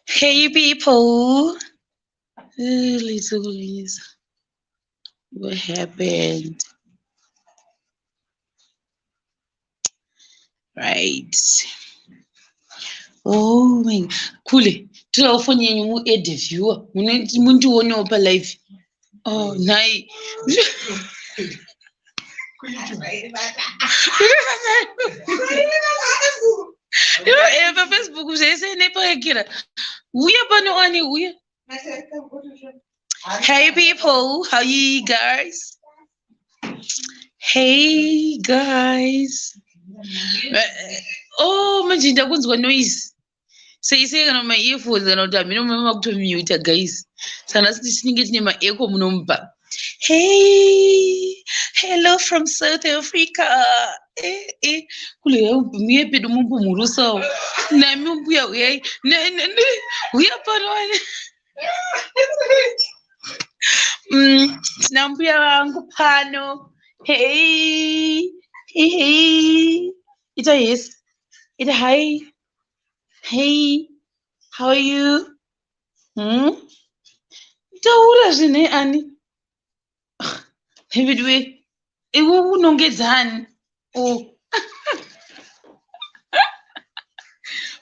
Hey people, little Lisa, what happened? Right. Oh my, Kule, tirawo foni yenyu muede viewer, mundiwonewo palive. oh nhai eh, pafacebook zvese nepaekera uya pano ani uya hey people how you guys hey guys oh manje ndakunzwa noise seisei kana maearphones kana kuti hamino mama makutomuta guys sana siti tinenge tine maeco munomupa hey hello from south africa eh, eh. kule muye pedu mumbu murusawo nami mbuya uyai uya pano mm, tina mbuya vangu pano hey hey ita yes ita hai Hey, how are you? Hmm? Taura zvine ani? David we, iwe unongedza ani? Oh.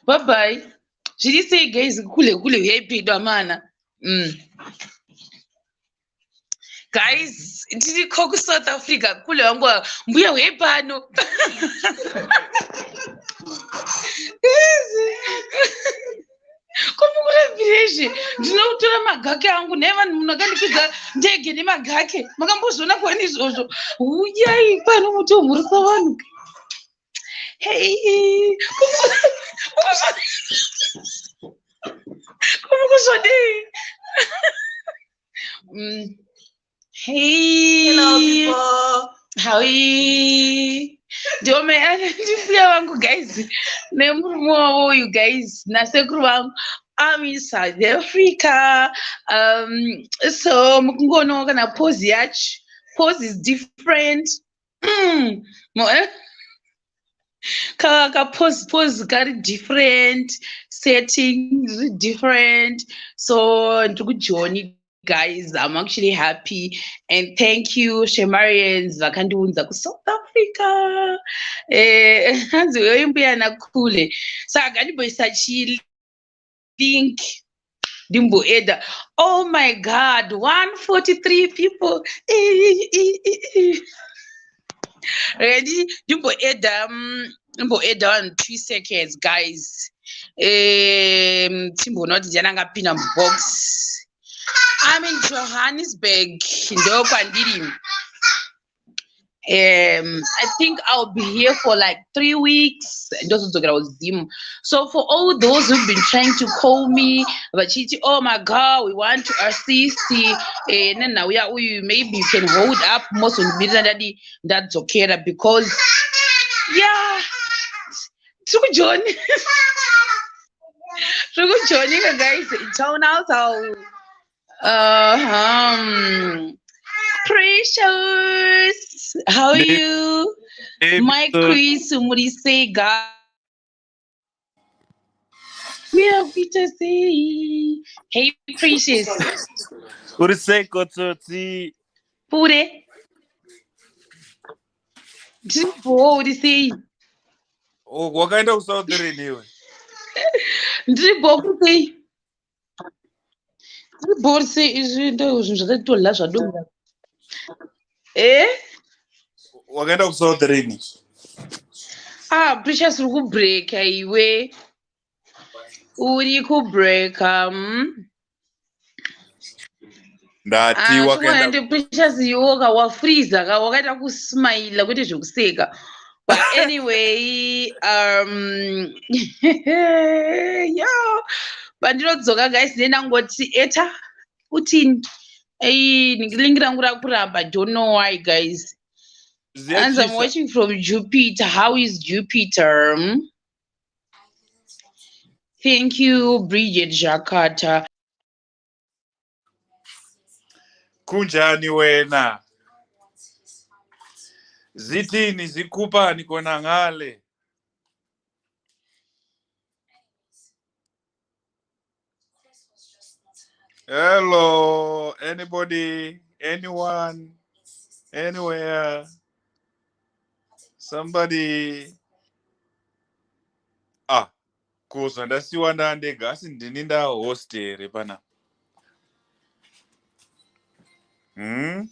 bye bye. Zviri sei guys kule kule huyai pedo amana. Mm. guys ndiriko kusouth africa kule wangu mbuya uye pano komukurevireshi ndinokutora magake angu naye vanhu munhu akandikwidza ndege nemagake makambozviona kwani izvozvo uyai pano muti omhurisa vanhu Hey, como que eu sou de? Mm. Hey. Hello, people. How are you? ndiwo ndifuya vangu guys nemurume wavo uyu guys nasekuru vangu I'm in South Africa. Um, so mukungono kana pose yacho pose is different mm. Eh? ka pose pose kari different setting zviri different so ndiri kujoni guys i'm actually happy and thank you shemarians vakandiunza kusouth africa eh, hanzi uyoimbuya nakule saka so, gandiboisa chili think ndimboeda oh my god 143 people ready ndimboeda mm, ndimboeda one two seconds guys um timboona kuti ndiani angapinda mubox im in johannesburg ndokwandiri um i think i'll be here for like three weeks ndozodzokera kuzimu so for all those who've been trying to call me vachiti oh my god we want to assist uh, eh, nenhau yauyu maybe you can hold up mozondimirira ndadi ndadzokera because yeah tiri kujoni tiri kujoni guys town house Uh -huh. Precious, how are you? Hey, My quiz, Murisega. We are Peter Say. Hey, Precious. Uriseko Tsotsi. Pure. Ndiripo urisei? Oh, wakaenda kuSouth Rain iwe. Ndiripo urisei? Borse izvi ndo zvinhu zvakatodla zvadonga. Eh? Wakaenda ku South Rainy. Ah, Precious uri kubreaka iwe. Uri kubreaka. Mm? ndati ah, wakaenda ndipushes iwo ka wafreeze ka wakaita kusmile kwete zvekuseka but anyway um yo pandinodzoka guys ne ndangoti eta kutini ei lingi rangu rakuramba don't know why guys and i'm watching from jupiter how is jupiter hmm? thank you bridget jakata kunjani wena zitini zikupani kona ngale hello anybody anyone anywhere somebody ah Ko zvandasiwa ndandega asi ndini nda host here pana? Hmm?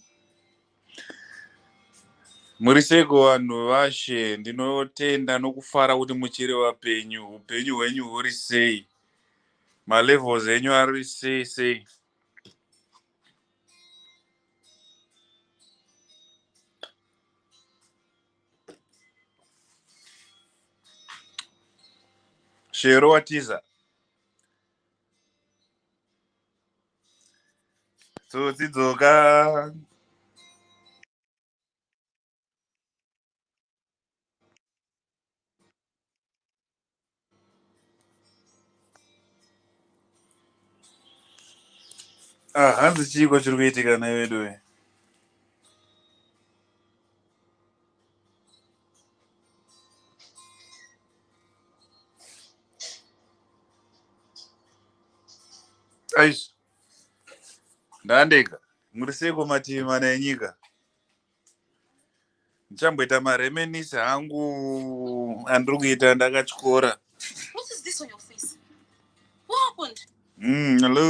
Muri seiko vanhu vashe ndinotenda nokufara kuti muchiri vapenyu upenyu hwenyu huri sei malevels enyu ari sei sei Shero watiza. Tsotsi dzoka. Ah, hanzi chiiko chiri kuitika nei veduwe aish ndandega muri seiko mativi mana enyika ndichamboita maremenisi hangu andiri kuita ndakatyora mm, hello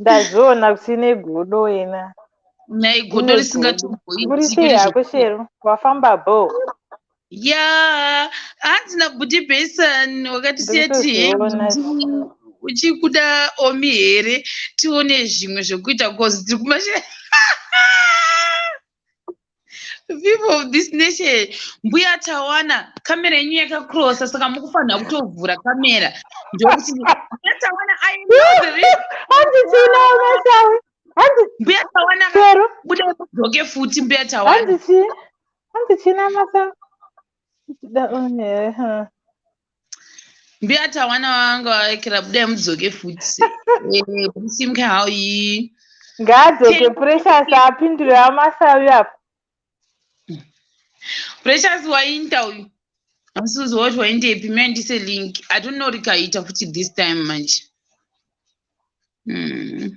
ndazviona kusine godo wena nhai godo risingatomboiiakushero wafamba bo ya hanzi nabuti bason wakati seti he uchikuda omi here tione zvimwe zvekuita bcause tiri kumashe people of this nation mbuya tawana kamera yenyu yakakrosa saka mukufanira kutovhura kamera ndokuti tawana mbuya tawana budai mudzoke futi mbuya tawana hanzi china masa mbiyata wana wanga waekera budai mudzoke futi musimke eh, hauyi ngaadzoke precious apindure amasawi apo precious wainta uyu amusuzi woti waindepi me ndise link atono rikaita futi this time manje hmm.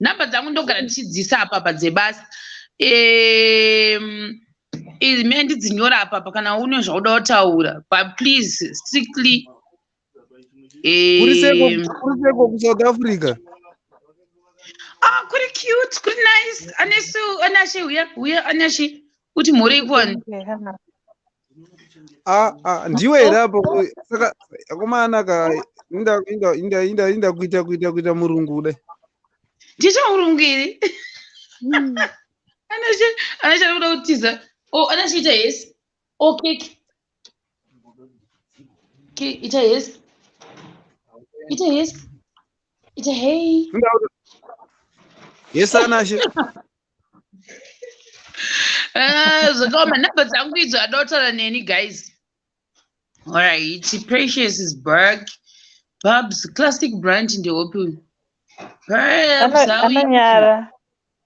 nhamba dzangu ndogara ndichidziisa apapa dzebasa izime ndidzinyora apapa kana une zvauda kutaura but please strictly kuriseko kusouth africa ah kuri cute kuri nice anesu anashe uya uya anashe kuti mhuri ikoni Ah, ah, ndiwe here apo saka akomana ka inda inda inda inda inda kuita kuita kuita murungu kudai ndicho murungu iri anashe anashe anoda kutiza oh anashe ita yes oh cake cake ita yes ita yes ita hey Inda- yes anashe Eh, zvakaoma number dzangu idzo adautaura neni guys alright precious is back babs classic branch ndeopi uyu anonyara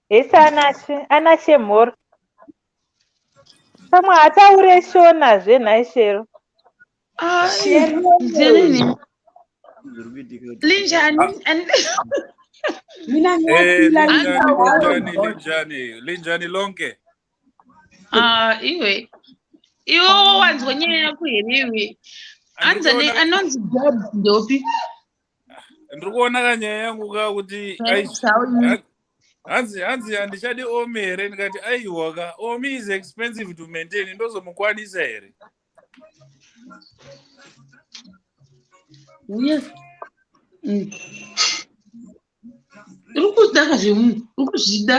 hesi anashe anashe mhoro pamwe hataure shona zvenhaishero Ah, Zilini. Linjani. and- Mina Eh, ngiyafila linjani, ngiyawazi. linjani, linjani, linjani lonke. Ah, iwe. Iwe wanzwa nyaya yako here iwe? Anza ne Andikuona- anonzi Bob ndopi? Ndiri kuona ka nyaya yangu ka kuti ai- Sauni. hanzi hanzi handichadi omi here ndikati aiwa ka omi is expensive to maintain ndozomukwanisa here uye mm, uri kuda ka zvemunhu uri kuzvida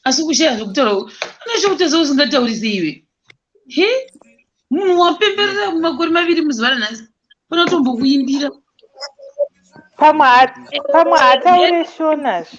asi kushaya zvekutaura unoita kutadza usingataurisi iwe he munhu wapemberera makore maviri muzuva ranhasi fana kutombokuimbira pamwe ha- pamwe hataure shona zve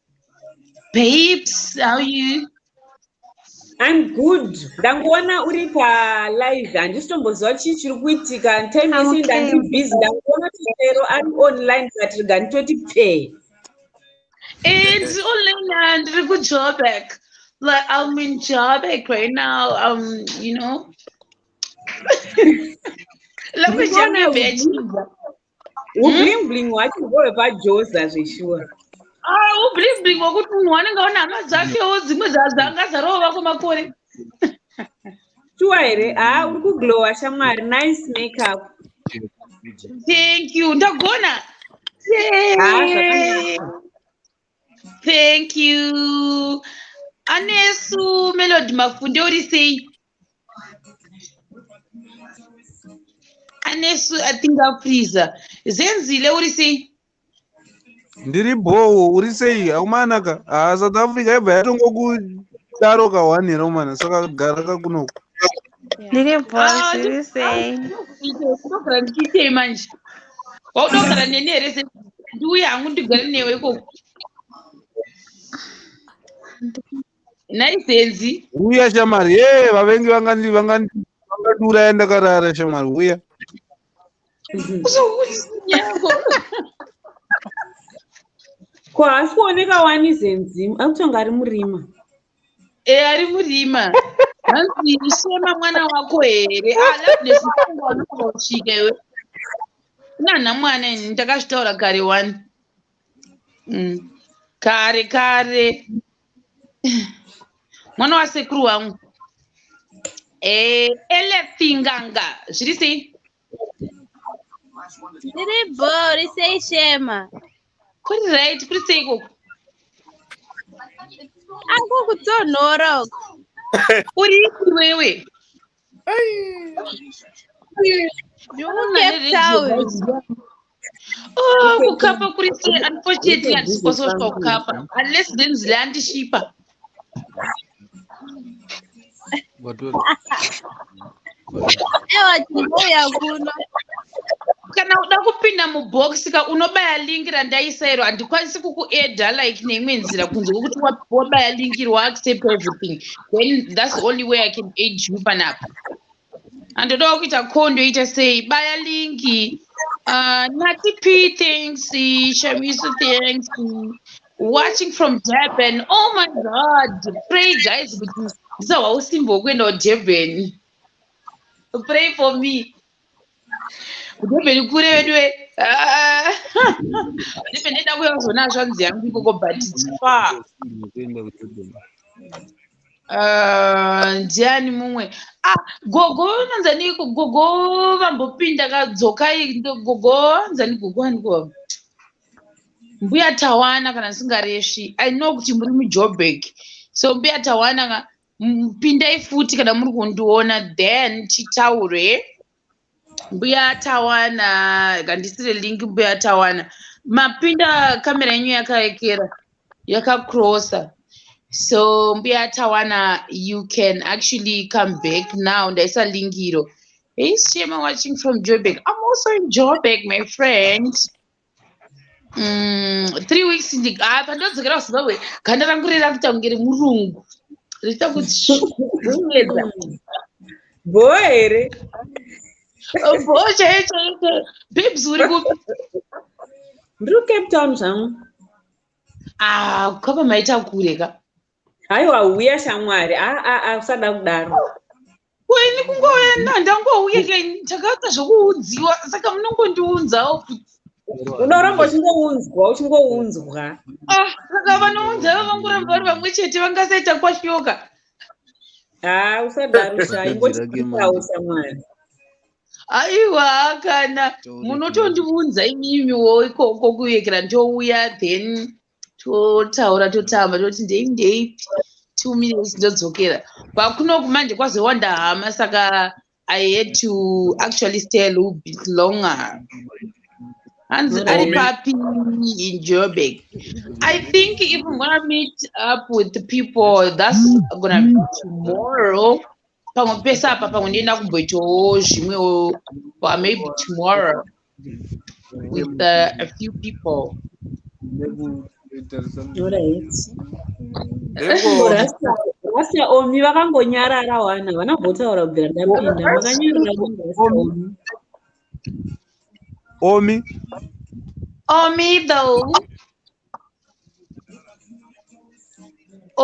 Babes, how are you? I'm good. Ndangoona uri pa live handisitomboziva chii chiri kuitika time yese okay. ndandiri busy ndangoona tisero ari online but rega nditoti pfee It's only land to job back. Like I'm in job back right now. Um, you know. Let me tell you, bitch. ublingbling hwacho ndove pajoza zveshuwa ah, ublingbling hwekuti munhu wanenge ona hama dzakewo dzimwe dzanga dzarova kwemakore shuwa here haa uri kuglowa shamwari nice makeup thank you ndagona thank you anesu melody mafunde uri sei anesu atingafriza zenzile uri sei ndiri bhowo uri sei haumanaka ha ah, south africa yabva yatongokudaro kahwani here umana saka gara kakunoku ndiri bhoiri ah, sei unogara ndichiitei manje waunogara neni here se ndiuye hangu ndigare newe ikoko naisenzi uya shamari ye vavengi vangandi vangandi vakadura yandakarara shamari uya ko haasi kuoneka wani zenzimu akutonga ari murima e ari murima hanzi shema mwana wako here alabnesika iwe kunanha mwana ini ndakazvitaura kare wani mm. kare kare mwana wasekuru wangu eh, elefinganga zviri sei zviri bho ri sei shema kuri right kuri sei ikoko ako kutonhora uko uri ipi wewe Oh, kukapa kuri sei unfortunately handisikoso kusvika kukapa unless then zile andishipa ewa tinouya kuno kana uda kupinda mubox ka unobaya link randaisa iro handikwanisi kukueda like neimwe nzira kunze kwekuti wabaya link iri waaccept everything then thats the only way i can aid you panapa andodawo kuita kondo ita sei baya linki uh, nati p thanks shamiso thanks watching from durban oh my god pray guys kuti ndisahwa usimbo wekuenda kudurban pray for me kudobeni kure veduwe ah. ndipe ndida kuya kuzona hazvanzi yangu ikoko but its far ah, ndiani mumwe ah, gogo nanzani gogo vambopinda kadzokai gogo nzani gogo aniko mbuya tawana kana ndisingaresvi i know kuti muri mujobek so mbuya tawana pindai futi kana muri kundiona then titaure mbuya tawana kandisire link mbuya tawana mapinda kamera yenyu yakaekera yakacrossa so mbuya tawana you can actually come back now ndaisa link iro hey shema watching from joburg i'm also in joburg my friend Mm, three weeks ndi- ah, pandadzokera kuzimbabwe ganda rangu riri rakuita kunge remurungu richiita kutsvukunyedza bhoo here bho chaiyo chaiyo chaiyo babes uri kupi ndiri kucape town zvangu ah kwapa maita kure ka haiwa huya shamwari aa usada kudaro ko ini kungouya na ndangouya ke ndakaita zvekuunziwa saka munongondiunzawo kuti unoramba uchingounzwa uchingounzwa ah, saka vanounza vavangoramba vari vamwe chete vangasaita kwashoka haa ah, usadarusha ingotiawo samwana aiwa kana munotondiunza imimiwo ikoko kuyekera ndouya then totaura totamba toti ndei ndei two minutes ndodzokera kwakunoku manje kwazowanda hama saka i had to actually stay a little bit longer hanzi ari papi in joburg i think if i'm gonna meet up with people that's gonna be tomorrow pamwe pese apa pamwe ndienda kumboitawo zvimwewo or maybe tomorrow with uh, a few people rasta omi vakangonyarara wana havana kumbotaura kubvira ndapinda vakanyarara omi omi though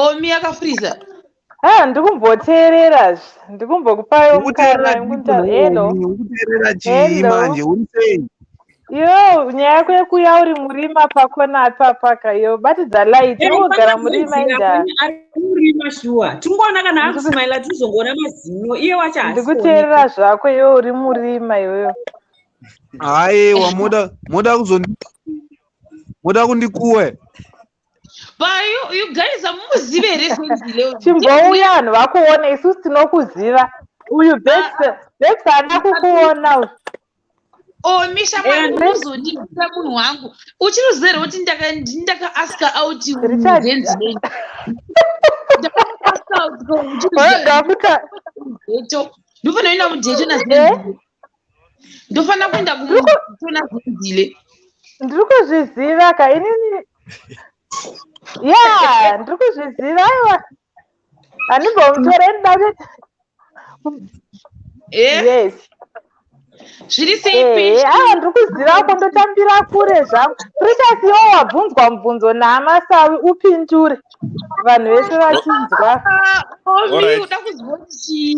omi yakafriza ha ah, ndikumboteerera ndikumbokupayo mukana hello yo nyaya yako yekuya uri murima pakona apapaka yo batidza light unogara murima indaarima shuwa tingoona kana akusmaila tizongoona mazino iye wacho ndikuteerera zvako yo uri murima iyoyo haiwa moda kuzondipa moda kundikuwe payugaiza mumuzive here chimbouya vanhu vakuona isusu tinokuziva uyu bebs ana kukuona uyu omisha oh, mwana unozondibisa munhu wangu uchiri zero kuti ndakaaska out ndakaaska out ndofanoenda mujeto nazeto ndofanira kuenda kuona zvinzile ndiri kuzviziva ka inini ya ndiri kuzviziva aiwa handimbomutora ndidave eh? yes zviri seipi eh, eh, awa ndiri kuziva ko ndotambira kure zvangu pricasi iwo wabvunzwa mubvunzo naamasawi upindure vanhu vese vachinzwa ah, oh, uda kuziva chii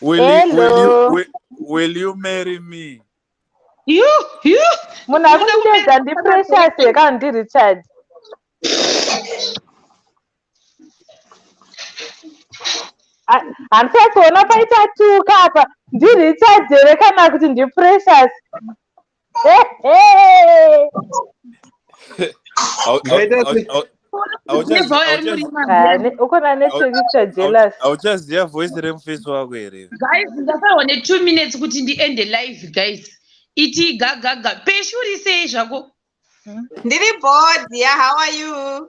Will, you, will, you, will, will you marry me? You, you. Munhu akundibedza ndi precious yeka ndi Richard. Hanti akuona paita tuka apa ndi Richard here kana kuti ndi precious? ukona nechekuita jealous auchaziva voice remufesi wako here guys ndasarwa ne2 minutes kuti ndiende live guys iti gagaga peshuri sei zvako ndiri board ya how are you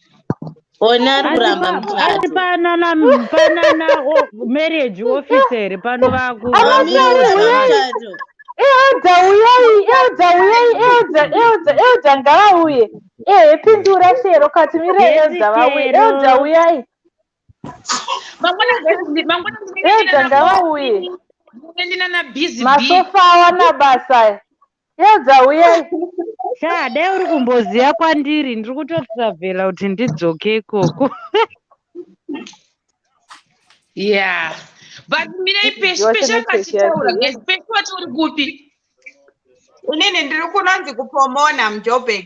Ona ari kuramba ari panana panana marriage officer pano vaku. Elda uyai, Elda uyai, Elda, Elda, Elda ngavauye. Ehe pindura shero kati mire Elda vauye, Elda uyai. Elda ngavauye. Masofa awana basa. Chiedza uyai. Shaa dai uri kumboziva kwandiri ndiri kutotravhela kuti ndidzoke ikoko. Yeah. But mirei peshi peshi akachitaura guys peshi wati uri kupi? Inini ndiri kunonzi kupomona muJoburg.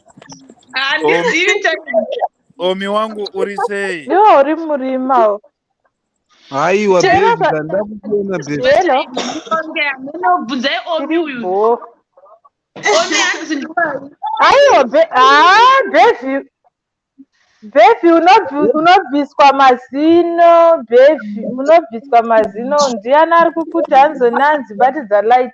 handizivi omi wangu uri sei iwo uri murima haiwa ndakuona bebvunzai omi uyu omi hanzi aiwa bevi bevi unobviswa mazino bevi unobviswa mazino ndiani ari kukuti hanzi nanzi batidza light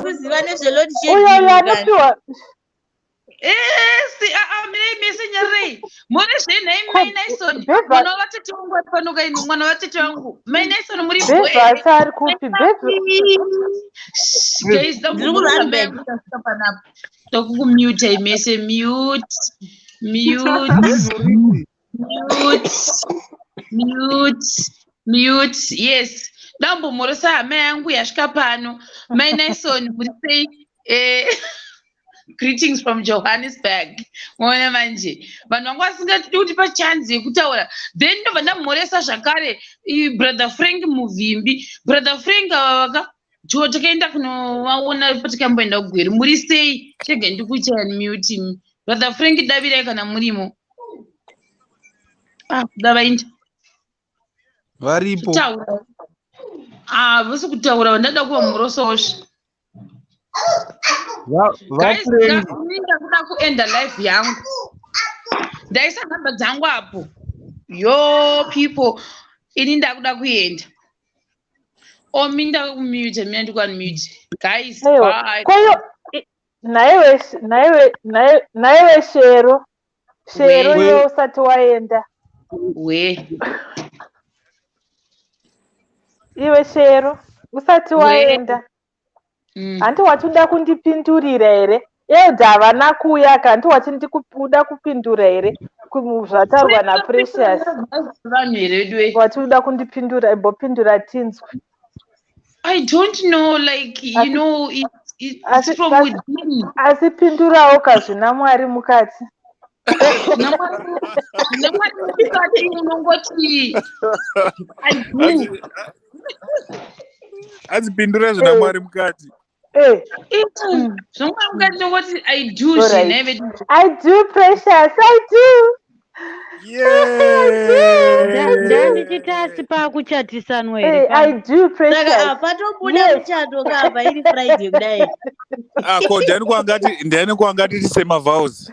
kuziva nezvelord esi aa mirei mese nyarei muri zvei nhai mai naison mwana wavatete wangu ari pano kaini mwana wavatete wangu mai naison muri bhasa ari kuti bhasaakukumiutai mese mute mute mute yes dambomhorosa hama yangu yasvika pano mai nison kuri sei eh, greetings from johannesburg moona manje vanhu vanga vasingati kuti pachanzi yekutaura then ndobva ndamhoresa zvakare brother frank muvimbi brother frank ava vaka jo takaenda kunovaona patikamboenda kugweri muri sei chega ndikuchaya muti brother frank davirai kana murimo ah, kuda vainda varipo ah, vose kutaura vandada kuva murososvi vainda kuda kuenda life yangu ndaisa nhamba dzangu apo yo people ini ndakuda kuenda Oh, minda kumute, mina ndikuunmute. Guys, bye. Koyo, naiwe, naiwe, naiwe shero. Shero iwe usati waenda. We. Iwe shero, usati waenda. mm. hanti wachida kundipindurira here elda havana kuuya ka hanti wachindikuda kupindura here zvataurwa naprecious wachida kundipindura imbopindura tinzwe i don't know like you asi, know it, it, asi, from asi, within asi pindurawo kazvina mwari mukati namwari mukati unongoti adzipindura zvina eh. mwari mukati eh. eh, zvamwari mukati nokoti i do zvinaive i do precious i do ndandichitasi pakuchatisanwa patobuda muchato kapa iri friday kudai ah, ko ndani kwangati ndani kwangati tisemavhaus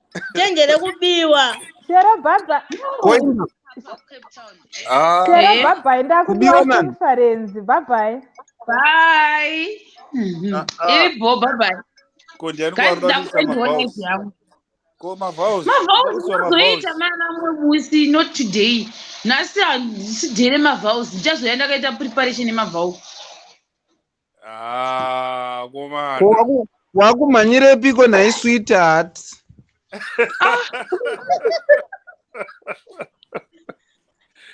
tenje rekubiwa chero bhabha ah. chero bhabhai ndakubiwa conference bhabhai bai ah, ah. iri bho bhabhai mavauzoita mana mwe musi not today nhasi handisidhere mavauzi ndichazoya ndakaita preparation yemavauzi Ah, komana. Ko waku- wakumhanyirepiko nhai sweetheart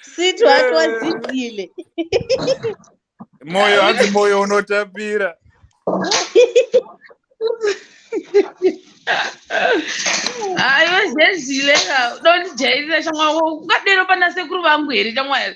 Sweet wake wadzidile. Moyo hanzi moyo unotapira. Ah, iwe zezile ka. Dondijairira shamwari. Ukadero pana sekuru vangu here shamwari?